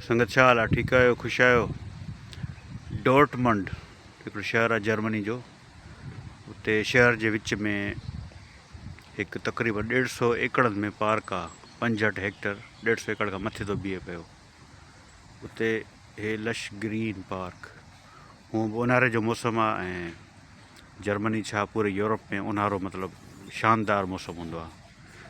سنگت ڇا حال آ ٺيڪ آهيو خوش آهيو ڊورٽمنڊ هڪڙو شهر آ جرمني جو اتي شهر جي وچ ۾ هڪ تقريبن ڏيڍ سو ايڪڙن ۾ پارڪ آ پنجهٺ هيڪٽر ڏيڍ سو ايڪڙ کان مٿي ٿو بيهي پيو اتي هي لش گرين پارڪ هون به اونهاري جو موسم آ ۽ جرمني ڇا پوري يورپ ۾ اونهارو مطلب شاندار موسم هوندو آ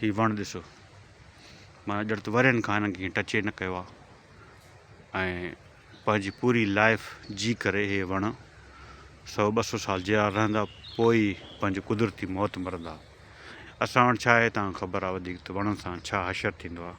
هي وڻ ڏسو معنيٰ ڄڻ ته ورهين کان هنن کي ڪنهن ٽچ ئي نه ڪيو آهي ۽ پنهنجي پوري لائف جي ڪري هي وڻ سو ٻه سو سال جيئرا رهندا پوء ئي پنهنجي قدرتي موت مرندا اسان وٽ ڇا آهي تان خبر آهي وڌيڪ ته وڻن سان ڇا حشر ٿيندو آهي.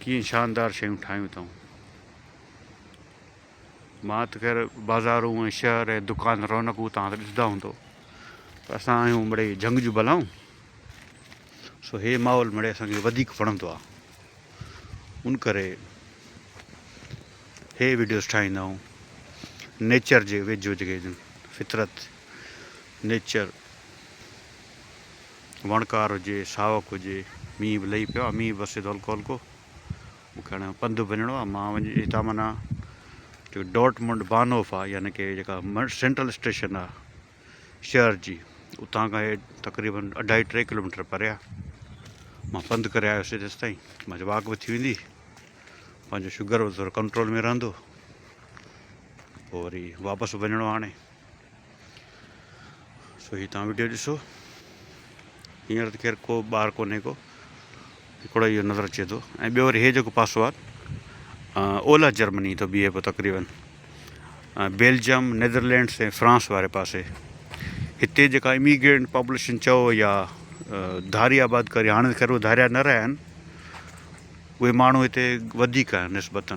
ڪيئن شاندار شيون ٺاهيون اٿئون. مان ته خير بازارون ۽ شهر ۽ دڪان رونقون توهان ته ڏسندا هوندو پر اسان آهيون مڙئي جهنگ جون بلائون سو هي ماحول مڙئي اسان کي وڌيڪ وڻندو آهي ان ڪري هي ويڊيوز ٺاهيندا آهيون نيچر جي ويجهو جيڪي فطرت نيچر وڻڪار هجي، ساوڪ هجي، مينهن به لهي پيو آ، مينهن به وسي ٿو هلڪو هلڪو، مون کي هاڻي پنڌ وڃڻو آ، مان وڃي هتان معنيٰ جيڪو ڊورٽمنڊ بانهوف آ يعني ڪي جيڪا سينٽرل اسٽيشن آ شهر جي اتان کان هي تقريبن اڍائي ٽي ڪلوميٽر پري آ، مان پنڌ ڪري آيوسي تيستائين منهنجي واڪ به ٿي ويندي، پنهنجو شگر به ٿورو ڪنٽرول ۾ رهندو، پوء وري واپس وڃڻو آ هاڻي. سو هي توهان وڊيو ڏسو هينئر ته خير ڪو ٻار ڪونهي ڪو هڪڙو اهو نظر اچي ٿو ۽ ٻيو وري هي جيڪو پاسو آهي اولهه جرمني ٿو بيهي پيو تقريبن بيلجيم نيدرلينڊس ۽ فرانس واري پاسي هتي جيڪا اميگرينٽ پاپوليشن چئو يا ڌاري آباد ڪري هاڻي خير اهي ڌاريا نه رهيا آهن اهي ماڻهو هتي وڌيڪ آهن نسبتاً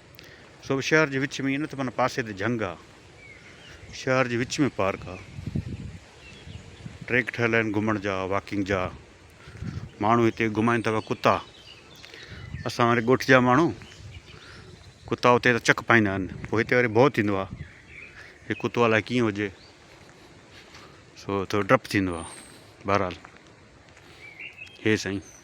سو شهر جي وچ ۾ ائين نه ته معنيٰ پاسي تي جهنگ آ شهر جي وچ ۾ پارڪ آ ٽريڪ ٺهيل آهن گهمڻ جا واڪنگ جا ماڻهو هتي گهمائن ٿا ڪتا اسان واري ڳوٺ جا ماڻهو ڪتا اتي ته چڪ پائيندا آهن پوء هتي وري ڀو ٿيندو آ هي ڪتو الاء ڪيئن هجي سو ٿورو ڊپ ٿيندو آ بهرحال هي سائين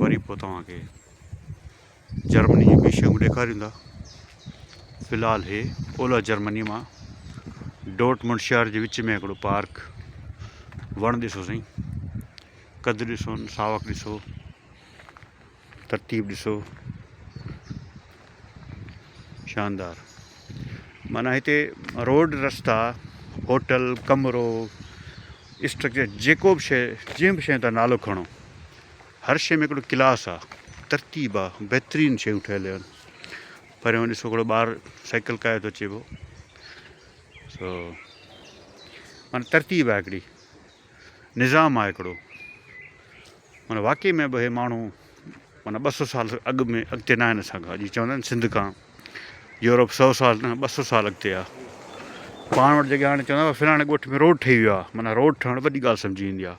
وري پوء توهان کي جرمني جون ٻيون شيون ڏيکاريون ٿا في الحال هي اولهه جرمني مان ڊوٽ منڊ شهر جي وچ ۾ هڪڙو پارڪ وڻ ڏسو سائين قد ڏسو ساوڪ ڏسو ترتيب ڏسو شاندار معنيٰ هتي روڊ رستا هوٽل ڪمرو اسٽرڪچر جيڪو به شيء جنهن به شيء تان نالو کڻو هر شيء ۾ هڪڙو ڪلاس آ ترتيب آ بهترين شيون ٺهيل آهن پريون ڏسو هڪڙو ٻار سائيڪل ڪاهي ٿو اچي پيو سو معنيٰ ترتيب آ هڪڙي نظام آ هڪڙو معنيٰ واقعي ۾ به اهي ماڻهو معنيٰ ٻه سؤ سال اڳ ۾ اڳتي ناهن اسان کان جيئن چوندا آهن سنڌ کان يورپ سؤ سال نه ٻه سؤ سال اڳتي آهي پاڻ وٽ جيڪي هاڻي چوندا فلاڻي ڳوٺ ۾ روڊ ٺهي ويو آهي معنيٰ روڊ ٺهڻ وڏي ڳالهه سمجهي ويندي آهي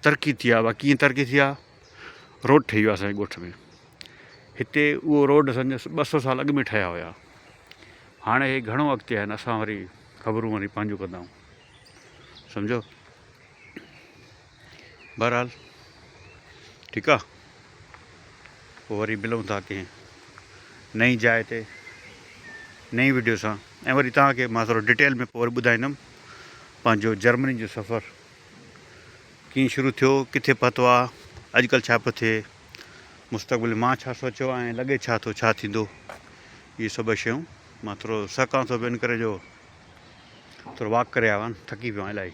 ترقي ٿي آهي ڪيئن ترقي ٿي آهي روڊ ٺهي ويو اسانجي ڳوٺ ۾ هتي اهو روڊ سمجهه ٻه سؤ سال اڳ ۾ ٺهيا هيا هاڻي هي گهڻو اڳتي آهن اسان وري خبرون وري پنهنجون ڪندا آهيون سمجهو بهرحال ٺيڪ آ پو وري ملون ٿا ڪنهن نئين جاء تي نئين ويڊيو سان ۽ وري توهان کي مان ٿورو ڊيٽيل ۾ پو وري ٻڌائيندم پنهنجو جرمني جو سفر ڪيئن شروع ٿيو ڪٿي پهتو آ اڄڪلھ ڇا پيو ٿئي مستقبل مان ڇا سوچيو ۽ لڳي ڇا ٿو ڇا ٿيندو اهي سڀ شيون مان ٿورو سهڪان ٿو به ان ڪري جو ٿورو واڪ ڪري آيو آهيان ٿڪي پيو آهيان الاهي